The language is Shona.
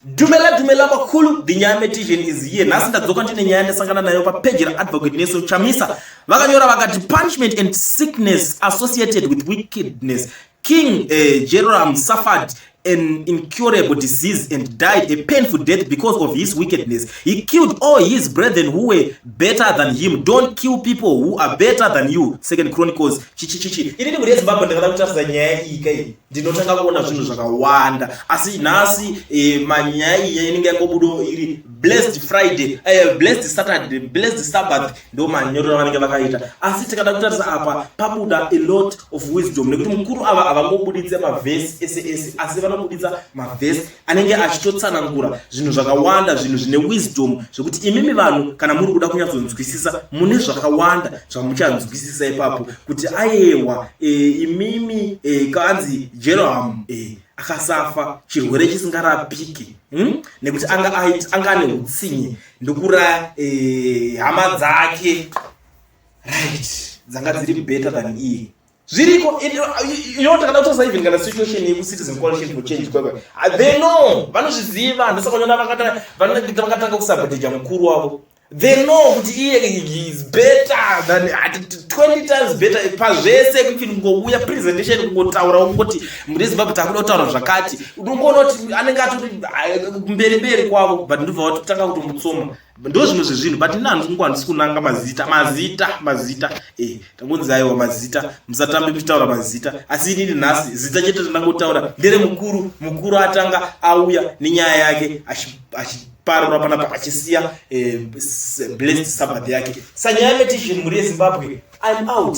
Dumela dumela makulu the nyaya meditation is here nhasi ndadzoka ndine nyaya ndasangana nayo papeji raadvocate neso chamisa vakanyora vakati punishment and sickness associated with wickedness king uh, eh, jeroram safad an incurable disease and died a painful death because of his wickedness he killed all his brethren who were better than him don't kill people who are better than you second chronicles chichichichi ini ndimuri yezimbabwe ndakada kutarisa nyaya iyi kai ndinotanga kuona zvinhu zvakawanda asi nhasi eh, manyaya iya inenge yangobudo iri blessed friday eh, blessed saturday blessed sabbath ndo manyorero avanenge vakaita asi tikada kutarisa apa pabuda a lot of wisdom nekuti mukuru ava havangobuditse mavhesi ese ese asi vanobuditsa mavhesi anenge achitotsanangura zvinhu zvakawanda zvinhu zvine wisdom zvekuti imimi vanhu kana muri kuda kunyatsonzwisisa mune zvakawanda zvamuchanzwisisa ipapo kuti ayewa e, imimi e, kanzi jerohamu e, akasafa chirwere chisingarapiki hmm? nekuti anga anga ane utsinye ndokuraya e, hama dzake right dzanga dziri better than iye zviriko ino takada kutosa even kana situation yekucitizen coalition for change kwekwe ah, they know vanozviziva handisa kunyona vakatanga kusaboteja mukuru wavo they know kuti iye is better than 20 times better pazvese kuti kungouya presentation kungotaura kungoti muri zimbabwe takuda kutaura zvakati unongoona kuti anenge atoti ah, mberi mberi kwavo but ndobva vatotanga kutomutsoma ndo zvimwe zvezvinhu but ini hanzi kungu handisi kunanga mazita mazita mazita eh, tangonzi aiwa mazita musatambe muchitaura mazita asi inini nhasi zita chete randangotaura ndere mukuru mukuru atanga auya nenyaya yake achiparura panapa achisiya eh, blessed sabbath yake sanyaya petition mhuri yezimbabwe im out